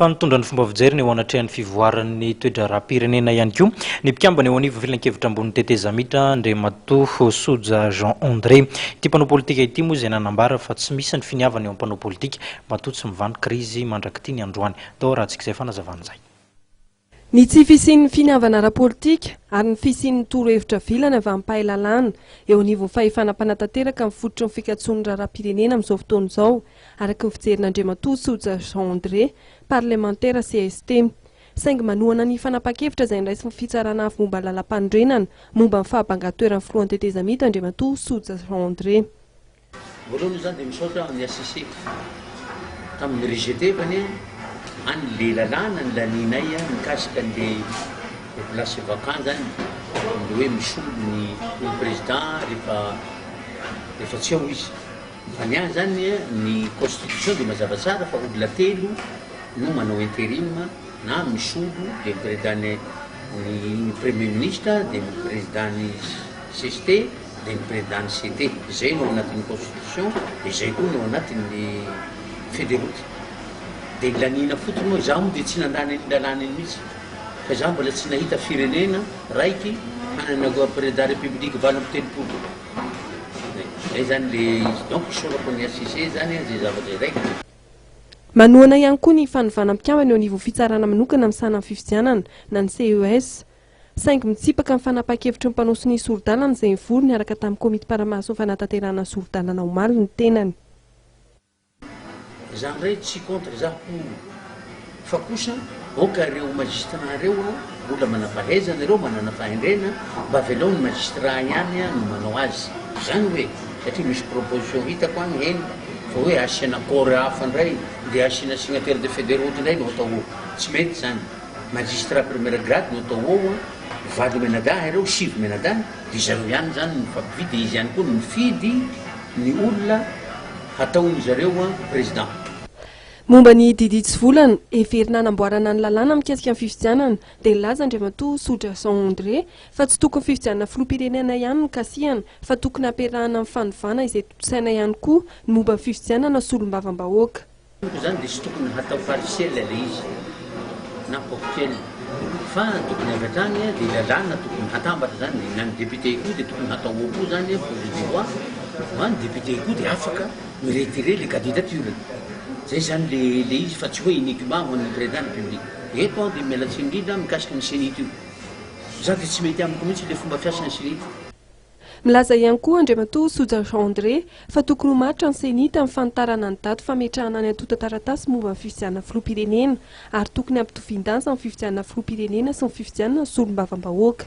fa nitondra ny fomba fijeriny eo anatrehan'ny fivoaran'ny toe-draharaham-pirenena ihany koa ny mpikambana eo anivon'ny filankevitra ambon'ny tetezamita, Andriamatoa Soja Jean André. Ity mpanao politika ity moa izay nanambara fa tsy misy ny finiavana eo amin'ny mpanao politika matoa tsy mivanon-krizy mandrak'ity ny androany. Tao Haratsik'izay fanazavana izay. Ny tsy fisian'ny finiavana ara-politika ary ny fisian'ny torohevitra vilany avy amin'ny mpahay lalàna eo anivon'ny fahefana mpanatanteraka ny fototry ny fikatsoan'ny raharaham-pirenena amin'izao fotoana izao, araka ny fijerin'Andriamatoa Soja Jean André, parlemantera cst. Saingy manohana ny fanapahan-kevitra izay noraisin'ny Fitsarana avo momba ny Lalàmpanorenana momba ny fahabangan-toeran'ny Filohan'ny tetezamita Andriamatoa Soja Jean André. Voalohany za dia misaotra an'i HCC tamin'ny rejeter-any any le lalàna nilanianay mikasika an'le population vacant zany, le hoe misolo ny ny président rehefa rehefa tsy ao izy. Fa ny ahy zany ny constitution dia mazava tsara fa olona telo no manao interim na misolo dia ny président ny premier ministre dia ny président ny cst. Ny Président-ny CT, izay no ao anatin'ny Constitution, izay koa no ao anatin'ny Federoute. Dia nilaniana fotsiny hoe izaho moa dia tsy nandany an'iny lalàna iny mihitsy, fa izaho mbola tsy nahita firenena raiky hanana Président de la République valo amby telopolo. Izay izany ilay izy. Donc isaorako an'i HCC izany an, izay zavatra izay ka. Manohana ihany koa ny fanovana mpikambana eo anivon'ny Fitsarana manokana misahana ny fifidianana, na ny CES. Saingy mitsipaka ny fanapahan-kevitry ny mpanao sonia sori-dalana izay nivory niaraka tamin'ny komity mpanamaso ny fanatanterahana ny sori-dalana omaly ny tenany. Izany indray tsy contre za hono fa kosa aoka ireo magistrat ireo a mbola manampahaizana ireo manana fahendrena mba avelao ny magistrat ihany a no manao azy izany hoe satria misy proposition hitako any heno fa hoe asiana corps hafa indray ndeha asiana signataire de federoty indray no atao tsy mety izany Magistrat premier grade no atao ao an, valo mianadahy ireo, sivy mianadahy, dia zareo ihany izany no mifampifidy, dia izy ihany koa no mifidy ny olona hataony zareo an president. Momba ny didy tsy volana, heverina hanamboarana ny lalàna mikasika ny fifidianana, dia nilaza Andriamatoa Sodrason André fa tsy tokony fifidianana filoham-pirenena ihany no kasihana fa tokony hampiarahana amin'ny fanovana izay tontosaina ihany koa ny momba ny fifidianana solombavambahoaka. Tompoko izany dia tsy tokony hatao partiel ilay izy na ponctuel fa ny tokony avy hatrany dia lalàna tokony hatambatra izany na ny député koa dia tokony hatao ao koa izany projet de loi fa ny député koa dia afaka mi retirer ilay candidature-ny izay izany le le izy fa tsy hoe uniquement ho an'ny président de la république eto aho dia miala tsiny indrindra mikasika ny CENI-T io za dia tsy mety amiko mihitsy ilay fomba fiasan'ny CENI-T Milaza ihany koa Andriamatoa Soja Jean André fa tokony ho maritra ny Ceni tamin'ny fanitarana ny daty fametrahana ny antontan-taratasy momba ny fifidianana filoham-pirenena ary tokony hampitovian-danja ny fifidianana filoham-pirenena sy ny fifidianana ny solombavambahoaka.